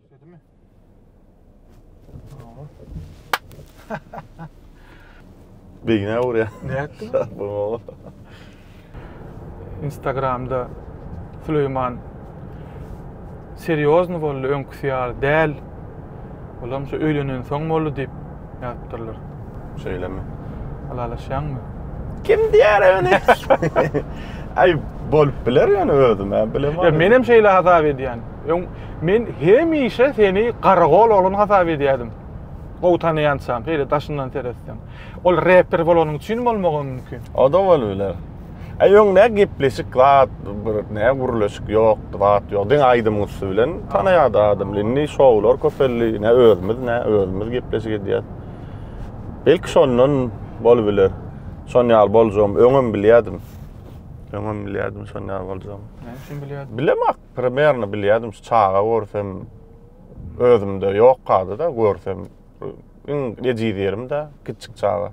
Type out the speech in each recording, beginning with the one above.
Işledimi? Tamam. Beýnä urýar. Ne etdi? Bu. Instagramda Süleyman serýozny boldy öňki Ygtyýar däl. Olam şu öýlenensoň boldy diýip ýazypdyrlar. Şeýlemi? Ylalaşýaňmy? Kim diýer ony? Aý, bolup biler ýöne özüm-ä bilemok. Ýa menem şeýle hasap edýän. Öň men hemişe seni garagol oglan hasap edýädim. Gowy tanaýançam, şeýle daşyndan seretseň. Ol reper bolanyň üçin bolmagam mümkin. O-da bolup biler. E öň ne gepleşik zat bir ne gürleşik yok zat yok. Diň aýdym üstü bilen tanaýardy adam. Indi şowlar köpeldi. Ne özümiz ne özümiz gepleşik edýär. Belki şondan bol biler. Şon ýaly boljagym öňem bilýärdim. Öňem bilýärdim şon ýaly boljagym. Näme üçin bilýärdim? Bilemak, primerno bilýärdim şu çaga görsem özümde yok kady da görsem. Iň ejiz ýerim de kiçik çaga.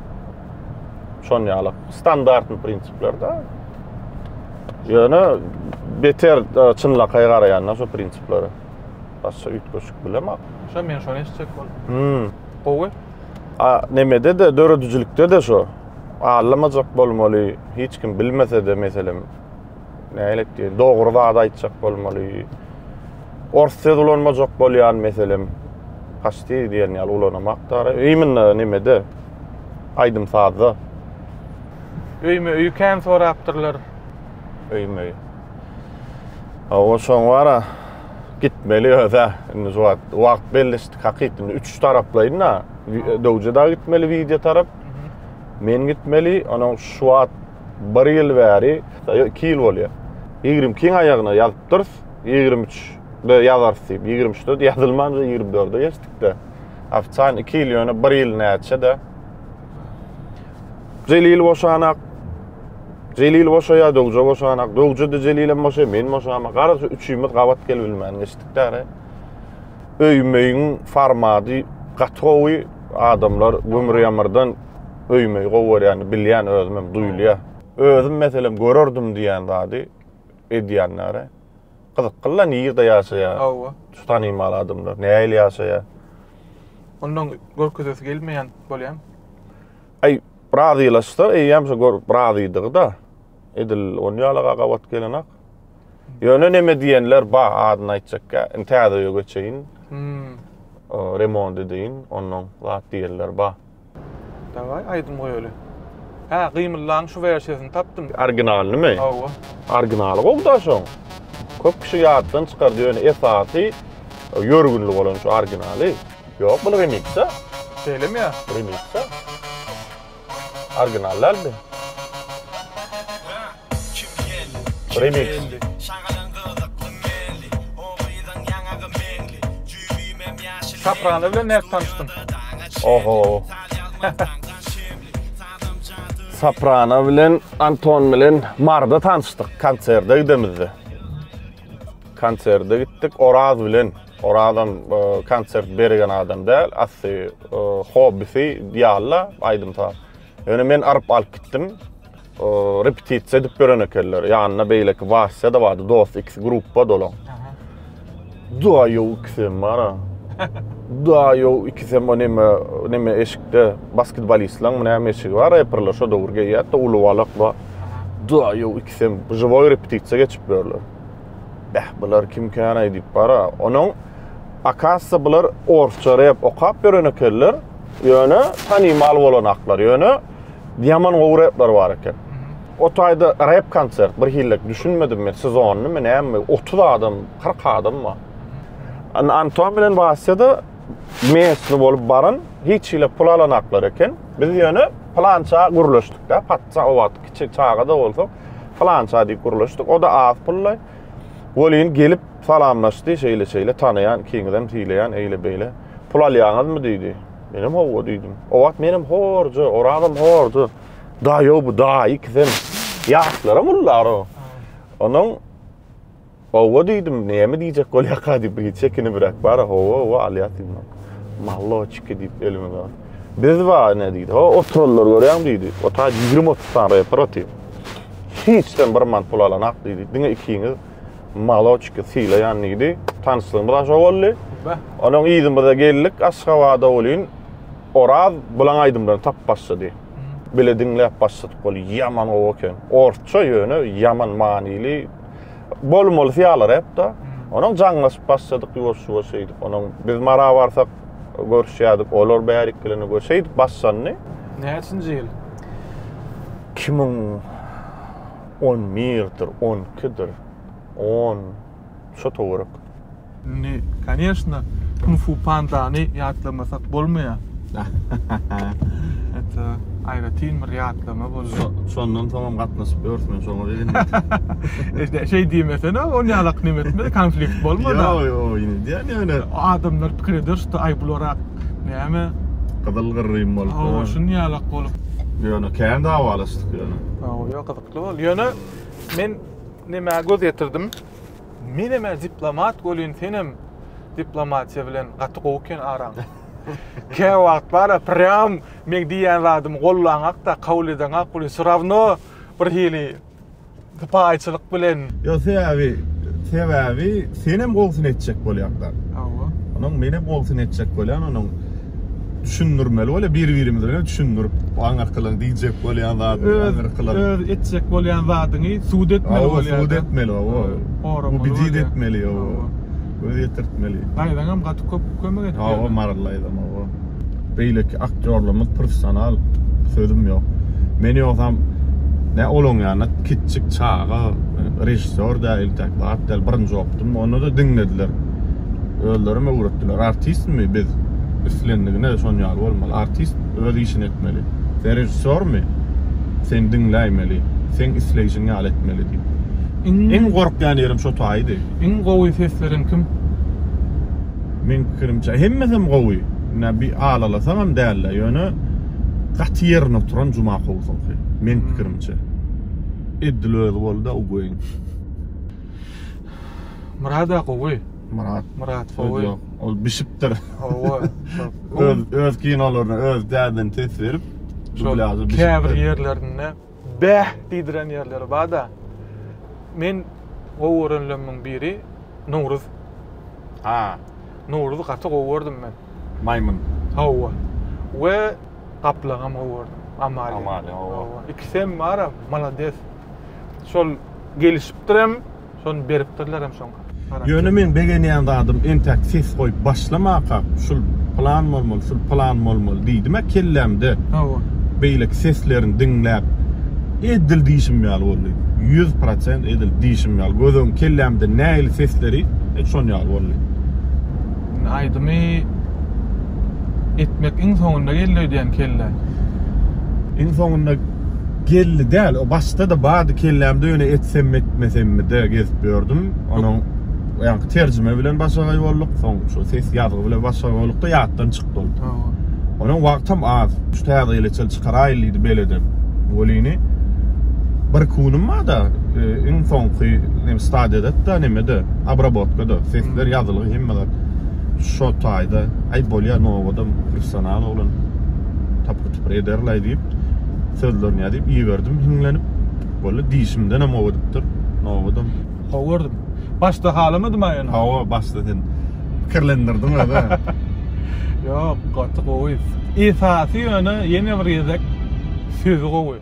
Şon ýaly standartny prinsiplerde. Ýöne beter e, çynlakaý garaýanda şu prinsiplere. Başga üýtgeşik bilemok. Şo men şony eşitjek boldum. Hmm. Gowy. A, nemede de döredijilikde de şu. Allamajak bolmaly, hiç kim bilmese de meselem Nähili etdi? Dogry zat aýtjak bolmaly. Ors söz ulanmajak bolýan meselem. Haçdy diýen ýaly ulanamak dara. Iýminde nimede? Aýdym sazda. Öýme öýi kän sorapdyrlar. Öýme öýi. Awa şoň wara gitmeli öze. Indi şu wagt wagt belleşdik hakyt. Indi üç taraplaýyn da. Döwje da gitmeli wideo tarap. Men gitmeli. Onuň şu wagt Bir ýyl bäri, ýa iki ýyl bolýar. Ýigrimi ikiň aýagyna ýazypdyrys, ýigrimi üçde ýazarys diýip. Ýigrimi üçde ýazylmança ýigrimi dörde geçdik-de. Ofitsialny iki ýyl, ýöne bir ýyl näçe-de. Jelil boşanak. Jelil boşaýar, Döwje boşanak. Döwje-de Jelilem boşaýar, men boşamak. Gara şu üçümiz gabat gelebilmän geçdik-de ara. Öý-möýüň formady gaty gowy. Adamlar gümür-ýamyrdan öýümi gowy görýänini bilýän özüm hem duýulýar. Özüm meselem görerdim diýen zady edýänlere gyzyklyla nirde ýaşaýar? Hawa. Şu tanymal adamlar nähili ýaşaýar? Ondan görkezesi gelmeýän bolýamy? Aý, razylaşsa eýýäm şu gör razydygy-da. Edil on ýalaga gabat gelenak. Ýöne neme diýenler ba, adyny aýtjakka, indi täze öýe göçeýin. Remont edeýin, ondan zat diýenler ba. Daway aýdym goýaly. Hä, gymyllaň şu wersiýasyny tapdym. Originalymy? Hawa. Originaly gowda şoň. Köp kişi ýatdan çykardy ýöne esasy ýörgünli bolan şu originaly. Ýok bul remixda. Şeýlemi ýa? Remixda. Original däldi. Soprano bilen nädip tanyşdyň? Oho. Soprano bilen Anton bilen Marda tanyşdyk konserde gidemizde. Konserde gitdik Oraz bilen. Orazam e, konsert bergen adam däl, asy e, hobbisi diýalla aýdym saz. Ýöne men aryp alyp gitdim. repetisiýa edip gören ekenler. Ýanynda beýleki Wasýa da bardy, dost ikisi gruppa dolan. Da ýok ikisi hem bar. Da ýok ikisi hem näme näme eşikde basketbolistleriň näme eşigi bar, reperler şo döwür geýýär, da uly balak bar. Da ýok ikisi hem żywoý repetisiýa geçip ýörler. Bäh, bular kim kän aýdyp bar. Onuň akassa bular orsça rep okap ýören ekenler. Ýöne tanymal bolanaklar. Ýöne Ýaman gowy repler bar eken. O taýda rep konsert bir hillik düşünmedim men sezonny men näme 30 adam 40 adam bar. An Anton bilen Vasya mesni bolup baran hiç hile pul alanaklar eken. Biz ýöne plança gürleşdik de patça o wagt kiçi çaga da bolsa plança diýip gürleşdik. O da az pulla. Welin gelip salamlaşdy şeýle şeýle tanaýan ikiňizem diýleýän eýle beýle. Pul alýaňyzmy diýdi. Menem howwa diýdim. O wagt menem horja, orazam horja. Da ýo bu da ikisem ýaşlara mullar o. Onuň howwa diýdim, näme diýjek bolýaka diýip bir çekini birak bar, howwa howwa alýar diýdim. Malloçki diýip elimi uzat. Biz ba ne diýdi? Ho, oturanlar görýäň diýdi. Ota 20-30 sany reper otyr. Hiç sen bir man pul alanak diýdi. Diňe ikiňiz Maloçki sylaýan diýdi. Tanyşlygymyz aşa boldy. Onuň yzymyza geldik Aşgabada welin Oraz bulaň aýdymlaryny tapyp başlady. Hmm. Bile diňläp başladyk ol ýaman gowy eken. Orsça ýöne ýaman manyly. Bolmaly syýalar hep-de. Hmm. Onuň jaňlaşyp başladyk ýuwaş-ýuwaş şeýdip. Onuň biz Mara barsak görüşýärdik. Olar bärik gelende gör şeýdip başlandy. Näçinji ýyl? 2000 On birdir, on ikidir, on, şo töwerek. Indi, koneşna, Kung-fu Pandany ýatlamasak bolmaýar. Hatda aýratyn bir ýatlama bolýar. Şondan soňam gatnaşyp ýörsün, şoňa begendim. Şeý diýmesene, ol ýalak neme etmedi, konflikt bolmady. Ýok, ýok, ýöne, ýöne. Adamlar pikir eder, şuda, aý, bularak näme. Gyzyl-gyrrym bolupdyr. Hawa, şuny ýalak bolup. Ýöne, kän dawalaşdyk ýöne. Oýa gyzykly boldy. Ýöne men nämä göz ýetirdim? Menem-ä diplomat welin senem diplomatiýa bilen gaty gowy eken araň. Kä wagt bar-a prýam meň diýýän zadymy gollaňak-da, kabul edeňak welin wsy rawno bir hili sypaýyçylyk bilen. Ýok, sebäbi, sebäbi senem gowusyny etjek bolýaklar. Hawa. Onuň menem gowusyny etjek bolýan onuň. düşündirmeli bolýar, bir-birimiz bilen düşündirip, aňyrkylygyň diýjek bolýan zadyny, aňyrkylygyň. Öz, öz etjek bolýan zadyňy subut etmeli bolýar. Hawa, subut etmeli, hawa. Goramaly. Ubedit etmeli, hawa. Göz ýetirtmeli. Daýzaňam gaty köp kömek etdi. Hawa, Maral daýzam, hawa. Beýleki aktýorlarymyz professional, sözüm ýok. Men ýogsam, nä olaryň ýanyna kiçjik çaga, režissýor däl, intäk zat däl, birinji okdum, onda-da diňlediler. Özlerim öwretdiler. Artistmi biz? Islendigine şon ýaly bolmaly. Artist öz işini etmeli. Sen režissýormy? Sen diňläýmeli. Seň isleýşiň ýaly etmeli diýip. Iň gorkýan ýerim şo taýydy. Iň gowy ses beren kim? Meň pikirimçe, hemmesem gowy. Ine, bir alalasaňam däl-de, ýöne gaty ýerine oturan Jumakowyňky, meň pikirimçe. Edil özi boldy-a Uguýeň. Murada gowy. Murat. Murat Öz gowy. ýok. Ol bişipdir. Hawa. Öz öz kinolaryna öz dädini ses berip Şol dublažy bişipdir. käbir ýerlerinde bäh diýdiren ýerleri bar-da. Men gowy görenlerimiň biri Nowruz. Ha, Nowruzy gaty gowy gördüm men. maýmyn. Hawa. We gaplaňam gowy gördüm. Amalia. Amalia, hawa. Hawa. Ikisem baram, malades. Şol gelişipdirem. Şony beripdirler hem şoň garaşyp. Ýöne meň begenýän zadym entäk ses goýup başlamakak şul plan bolmaly şul plan bolmaly diýdimä kellämde Hawa. beýleki seslerini diňläp edil diýşim ýaly boldy. Ýüz prosent edil diýşim ýaly göz öň kellämde nähili sesleri et şon ýaly boldy. Indi aýdymy etmek iň soňunda geldi öýdýän kellä. Iň soňunda. Geldi däl o başdada bardy kellämde ýöne etsem etmesemmide gezip ýördüm onuň ýaňky terjime bilen başagaý bolduk soň şu ses ýazgy bilen başagaý boldukda ýatdan çykdy ol onuň wagtam az şu täze ýyl eçil çykaraýyl diýdi beledem welini bir kunim barda iň soňky nem stadiýadada nemede abrabotkada sesler ýazylgy hemme zat şo taýda aý bolýa nowodam professional oglan tapyp Şükür ederlaý diýip, sözlerini ýazyp iberdim hiňlenip. Walla diýşimdenem ow edipdir. Nobadyň. How gördüm. Başda halamadym-a ýöne. Hawa, başda sen pikirlendirdiň özä. Ýok, gaty gowy. Esasy ýöne ýene bir gezek sözi gowy.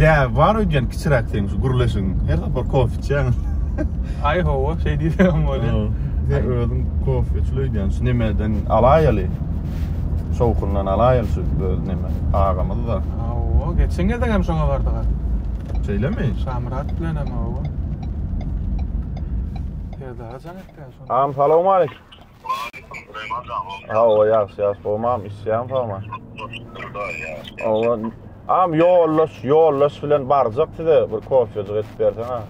Däbi bar öýdýän kiçiräk seň şu gürleşigiň. Her sapar kofe içýäň. Aý hawa, şeý diýsegem bolýar. Sen özüň kofe içli öýdýän şu nemeden alaýaly. Şowhundan alaýaly şu öz neme agamyzy da. Hawa, geçen gezegem şoňa bardyga. Şeýlemi? Şamyrat bilenem hawa. Perdagajam etdi. Am salam alik. Waleýkum salam agam. Hawa ýagşy ýagşy gowmam işýäň sagma. Hawa. Am ýoldaş ýoldaş bilen barjak size bir kofejik edip berseň ha.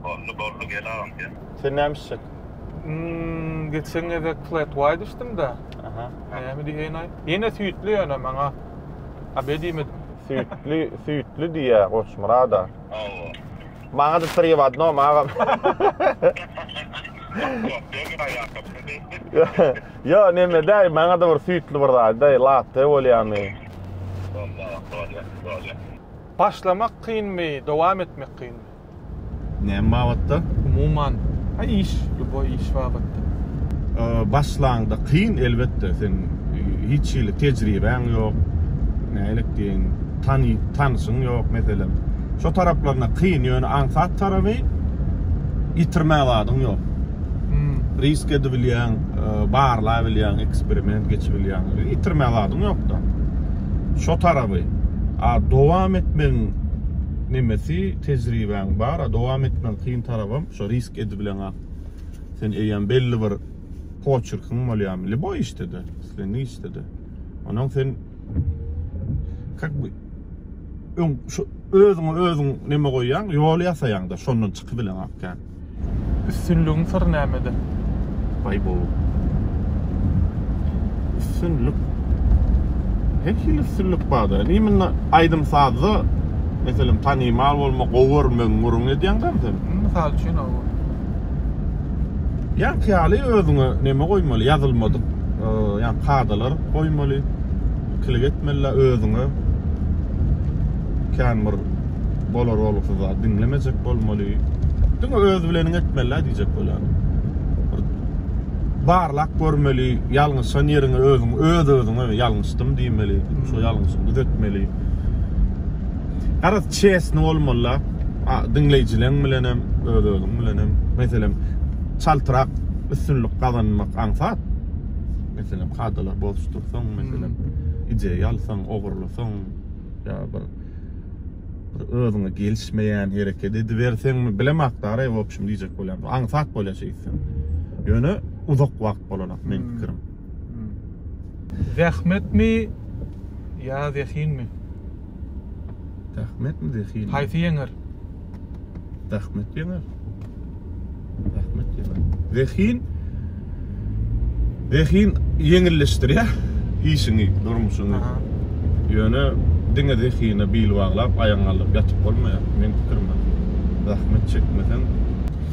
Boldy boldy gel agam gel. Sen näme işjek? Hmm, geçen gezek flat white içdim da. Aha. Näme diýen aý? Ýene süýtli ýöne maňa. Abedime. Süýtli, süýtli diýýä Goçmyrada. Hawa. Maňa da tri w adnom agam. Yo neme däy maňa da bir süýtli bir zat däy latte bolýamy. Başlamak kynmy, dowam etmek kynmy? Näme babatda? Umuman. Ha iş, lýuboý iş babatda. Başlaňda kyn elbetde, sen hiç hili tejribäň ýok, nälik diýeýin. tany tanyşyň ýok meselem şo taraplaryna kyn ýöne aňsat taraby ýitirmä zadyň ýok risk edibilýäň e, barlabilýäň eksperiment geçibilýäň ýitirmä zadyň ýokda şo taraby a dowam etmegiň nemesi tejribäň bar a dowam etmegiň kyn tarabam şo risk edibilen ak sen eýýäm belli bir poçerkiň bolýarmy liboý işde de islendik işde de Ondan sen kak bu öň şu özüňi özüň neme goýýaň, ýol ýasaýaňda şondan çykyp bilen akýan. Üstünligiň syry nämede? Baý bu. Üstünlik. Her hili üstünlik barda. Niminde aýdym sazda meselem tanymal bolmak, gowy görmek, gürrüň edýäňdämi sen? Mysal üçin o. Ýaňky ýaly özüňe neme goýmaly, ýazylmadyk ýa kadalar goýmaly, ikilik etmeli özüňe. Kän bir bolar-bolgusyz zat diňlemejek bolmaly. Diňe öz bileniň etmeli diýjek bolýaryn. Barlap görmeli, ýalňyşan ýeriňi özüň öz-özüňe ýalňyşdym diýmeli, şu ýalňyşymy düzetmeli. Garaz, Çesni bolmalyda diňleýjileň bilenem öz özüň bilenem meselem çaltrak üstünlik gazanmak aňsat meselem kadalar bozuşdyrsaň meselem ideýa alsaň ogurlasaň ýa bir özüňe gelişmeýän hereket ediberseňmi bilemok dara w obşim diýjek bolýan aňsat bolýa şeýtseň ýöne uzak wagt bolanok meň pikirim. Zähmetmi ýa zehinmi? Zähmetmi zehinmi? Haýsy ýeňer? Zähmet ýeňer. Zähmet ýeňer. Zehin Zehin ýeňilleşdirýär işiňi, durmuşyňy. Aha. Ýöne diňe zehine bil baglap, aýagyňy aldap ýatyp bolmaýar. Meň pikirimde. Zähmet çekmeseň,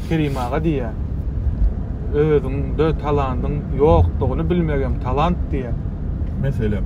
Kerim aga diýýär. Özüňde talandyň ýokdugyny bilmegem talant diýýär. meselem,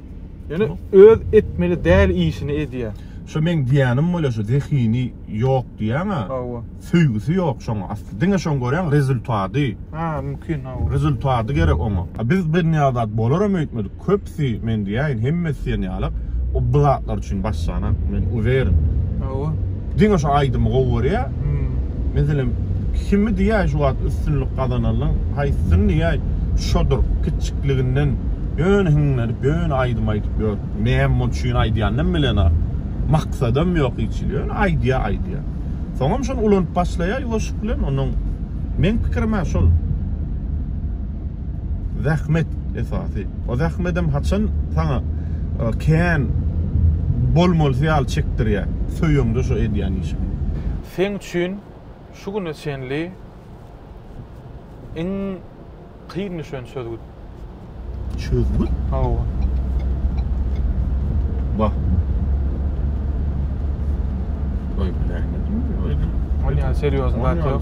Ýöne öz etmeli däl işini edýä. Şo meň diýýänim bolýa şo zehini ýok diýýäňa. Hawa. Söýgüsi ýok şoň asly. Diňe şoň görýäň rezultady. Ha mümkin hawa. Rezultady gerek oňa. A biz birnäçe zat bolaram öýtmedik. Köpsi men diýäýin hemmesi diýen ýaly. O bu zatlar üçin başlanat men uweren. Hawa. Diňe şu aýdymy gowy görýä. Meselem kimi diýä şu wagt üstünlik gazananyň haýsysyny diýä şodur kiçjikliginden ýöne hiňlenip ýöne aýdym aýdyp ýör. Näme üçin aýdýanynam bilenok. Maksadam ýok hiç hili ýöne aýdýa aýdýa. Soňam şony ulanyp başlaýa ýuwaşlyk bilen onuň meň pikirimä şol. Zähmet esasy. O zähmedem haçan saňa kän bolmalysy ýaly çekdirýär. Söýeňde şu edýän işiň. Seň üçin şu güne çenli iň kyn düşen çözgüt. Çözgüt? Hawa. Wah. Ol ýaly serýozny zat ýok.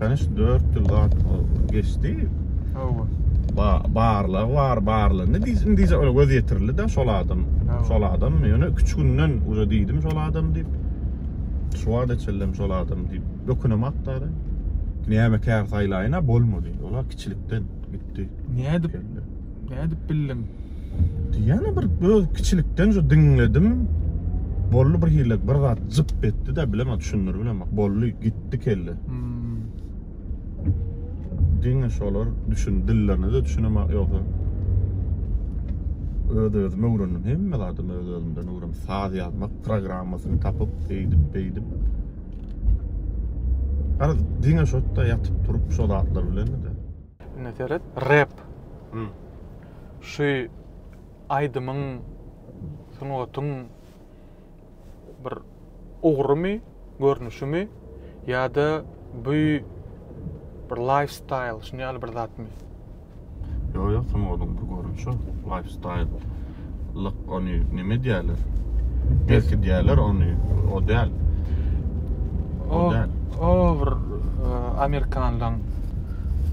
Täniş dört ýyl zat geçdi. Hawa. Ba barlag bar, barlandy. Diz indije öle göz ýetirildi de şol adam. Şol adam ýöne 3 günden uza diýdim şol adam diýip. Şu wada çellem şol adam diýip. Öküne makdary. Näme kär saýlaýyna bolmady. Ola kiçilikden gitdi. Nädip? Nädip bildiň? Diýýän bir öz kiçilikden şu diňledim. Bolly bir hille bir zat jyp etdi de bilemek düşündir bilemek. Bolly gitdi kelle. Hmm. Diňe şolar düşün dillerine de düşünemek ýoksa. Öz özüm öwrendim. Hemme zadymy öz özümden öwrendim. Saz ýazmak programmasyny tapyp, eýdip, beýdip. Garaz diňe şotda ýatyp turup şo zatlar bilen de. Ine seret. Rap. Hmm. Şu aýdymyň sungatyň bir ugrumy, görnüşimi ýa-da bu bir lifestyle şuny ýaly bir zatmy? Ýok ýok sungatyň bir görnüşi lifestyle. Ýaşlyk ony neme diýerler? Belki diýerler ony o däl. O däl. O bir e, amerikanlaryň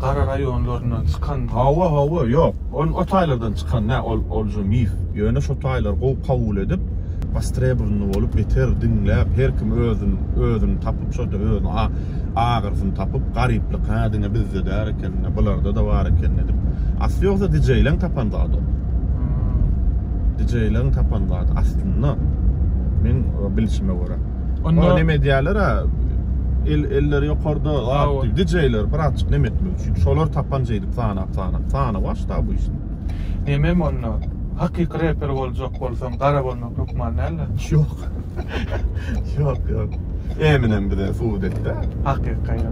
gara raýonlaryndan çykan. Hawa, hawa, ýok. Ol o taýlardan çykan nä, ol ol şu mif. Ýöne şu taýlar gowy kabul edip, bastre-burunly bolup, beter diňläp, her kim özüni, özüni tapyp, şo özüni agyrysyny tapyp, garyplyk, hä, diňe bizde däl eken. Indi bularda-da bar eken edip. Asly ýogsa DJ-leň tapan zady. DJ-leň tapan zady aslynda. Men e, bilişime görä. Onda- Onda neme diýerler ha? El eller ýokarda Aw. zat DJ-ler birazçyk neme etmek üçin. Şolar tapan jeýdip sanap sanap. Sana başda bu iş. Nemem onda? Hakyky reper boljak bolsaň, gara bolmak hökman däl-de. Ýok. Ýok, ýok. Eminem bize subut etdi. Hakyka ýa.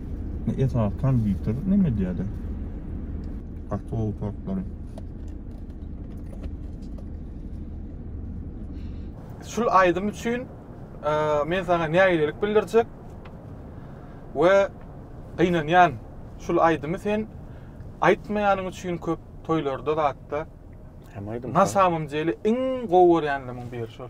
Esas konditer neme diýýärdi? Kartol tortlary. Şul aýdym üçin e, men sana nägilelik bildirjek we gynanýan şul aýdymy sen aýtmaýanyň üçin köp toýlarda zatda Hem aýdym. Nasamym jeli iň gowy görýänleriň biri şol.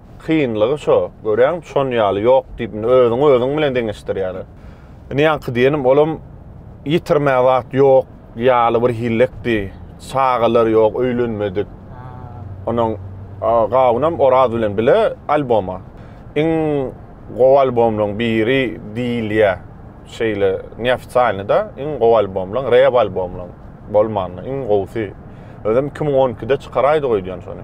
Kynlygy şo, görýäňmi, şon ýaly ýok diýip indi özüňi özüň bilen deňeşdirýärler. Indi ýaňky diýenim olam ýitirmä zat ýok ýaly bir hillekdi. Çagalar ýok, öýlenmedik. Onuň gawunam Oraz bilen bile alboma. Iň gowy albomlaň biri diýilýä. Şeýle neofisalnyda iň gowy albomlaň, rap albomlaň bolmanda iň gowusy. Özem iki müň on ikide çykaraýdyk öýdýän şony.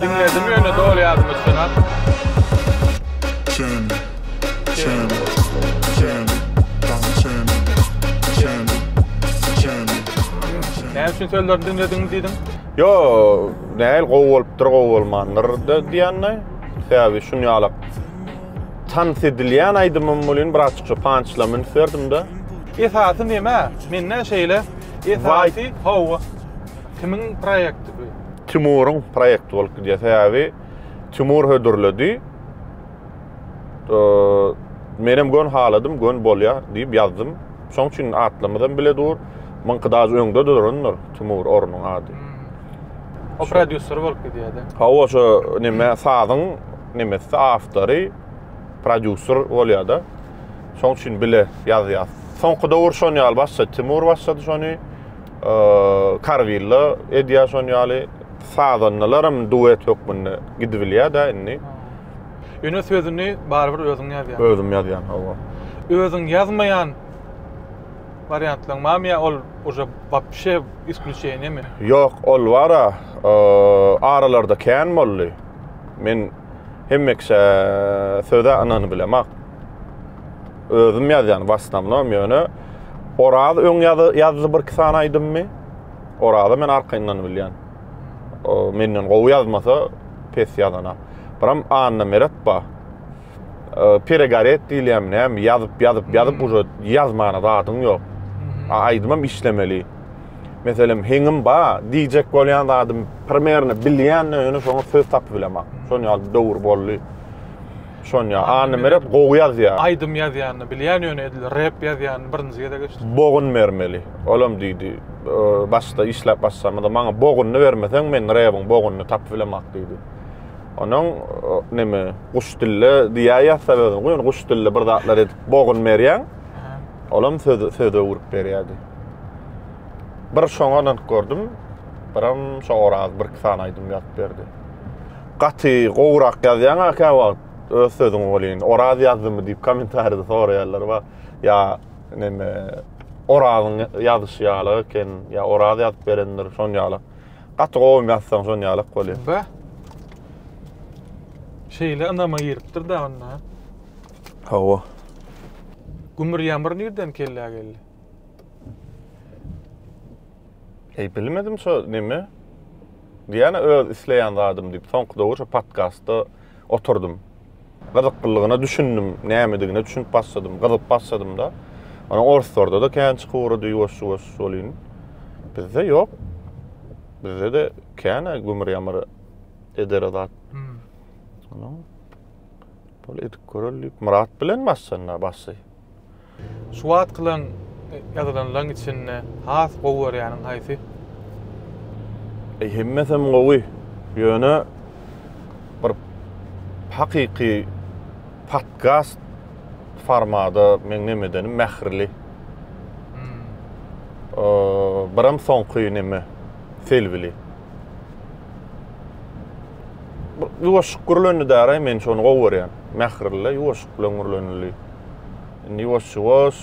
Diňledim ýöne doly ýadyma düşenok. Näme üçin sözlerini diňlediňiz diýdiň? Ýo, nägil gowy bolupdyr, gowy bolmandyr diýende, sebäbi şun ýalak tans edilýän aýdymym welin birazjyk şo pançla münüp berdim-de. Esasy näme? Mende şeýle esasy. Hawa. Kimiň proýekti bu? Timuryň proýekti bolup gidýär. Sebäbi Timur hödürledi. Menem gön haladym, gön bolýar diýip ýazdym. Şoň üçin atlarymyz hem bile dur. Myňky daş öňde durandyr Timur ornuň ady. Hmm. O prodýuser bolup gidýärdi. Hawa, şo näme sazyň nämesi awtory prodýuser bolýar-da. Şoň üçin bile ýazýas. Soňky döwür şon ýaly başlady. Timur başlady şony. Kargilda edýär şon ýaly. Sazandalaram duet hökmünde gidibilýär-dä indi. Ýöne sözüni barybir özüň ýazýaň. Özüm ýazýan, hawa. Özüň ýazmaýan wariantlaryň barmy ýa ol uje wapşe isklýuçeniýemi? Ýok, ol bar-a, aralarda kän boldy. Men hemme kişä söz-ä ynanybilemak. Özüm ýazýan w asnownom ýöne Oraz öň ýazdy birki sany aýdymmy. Oraza men arkaýyndan bilýän. Menden gowy ýazmasa pes ýazana. Biram Anna Meret ba. Peregaret diýilýämi nämi ýazyp ýazyp ýazyp uže ýazmana zadyň ýok. A aýdymam işlemeli. Meselem heňim ba diýjek bolýan zadym primerno bilýän ýöne şoňa söz tapyp bileman. Şon ýaly bir döwür boldy. Şonýa Anna Meret gowy ýazýa. Aýdym ýazýanyny bilýän ýöne edil rep ýazýanyny birinji gezek eşitdim. Bogun bermeli. Olam diýdi. Başda işläp başlamada maňa bogunyny bermeseň men rebiň bogunyny tapyp bilemak diýdi. Onuň neme guş dille diýä ýazsa özüm guýun guş dille bir zatlar edip bogun berýän. Olam söz söz öwrüp berýärdi. Bir şoňa ynanyp gördüm. Biram şo oraz bir iki sany aýdym ýazyp berdi. Gaty gowrak ýazýaň a käwagt öz sözüň welin Oraz ýazdymy diýip kommentariýada soraýarlar ba ýa neme Orazyň ýazyşy ýaly eken ýa Oraz ýazyp berendir şon ýaly. Gaty gowym ýazsaň şon ýalak bolýar. Ba. Şeýle ynama giripdir da onda. Hawa. Gümür ýamyr nirden kellä geldi? Eý bilmedim şo neme. Diýýän-ä öz isleýän zadym diýip soňky döwür şu podkastda oturdym. Gyzyklylygyna düşündim, nämedigine düşünip başladym, gyzyp başladym-da. Onuň orslarda-da kän çykyp ugrady ýuwaş-ýuwaş welin, bizde ýok. Bizde-de kän-ä gümür-ýamyr edere zat. Onsoň, bol edip göreli diýip, Myrat bilen başlandy-a başy. Şu wagtkylaň ýazylanlaň içinde has gowy görýäniň haýsy? Eý hemmesem gowy. Ýöne bir hakyky podkast formada meň neme edenim mähirli. Biram soňky neme Selbili. Ýuwaşyk gürlendi däraý men şony gowy görýän. Mähirli ýuwaşyk bilen gürlenildi. Indi ýuwaş-ýuwaş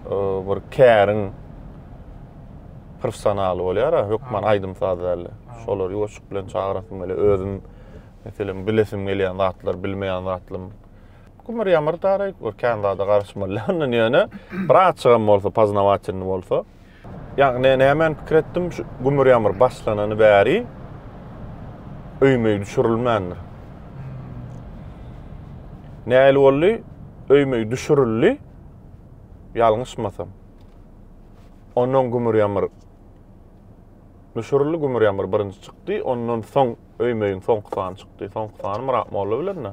e, bir käriň professionaly bolýar, hökman aýdym-saz däl. Şolar ýuwaşyk bilen çagyrasym gelýär. Özüm meselem bilesim gelýän zatlar, bilmeýän zatlarym. Kümür ýamyr taryk, bir kän zada garaşmaly. Ondan ýöne bir açygam bolsa, poznawatelny bolsa. Ýagny nämäni pikir etdim, şu gümür ýamyr başlanany bäri öýmöý düşürilmändir. Nähili boldy? Öýmöý düşürildi, ýalňyşmasam. Ondan gümür ýamyr düşürildi, gümür ýamyr birinji çykdy, ondan soň öýmöýiň soňky sany çykdy. Soňky sany Myrat molla bilen-de.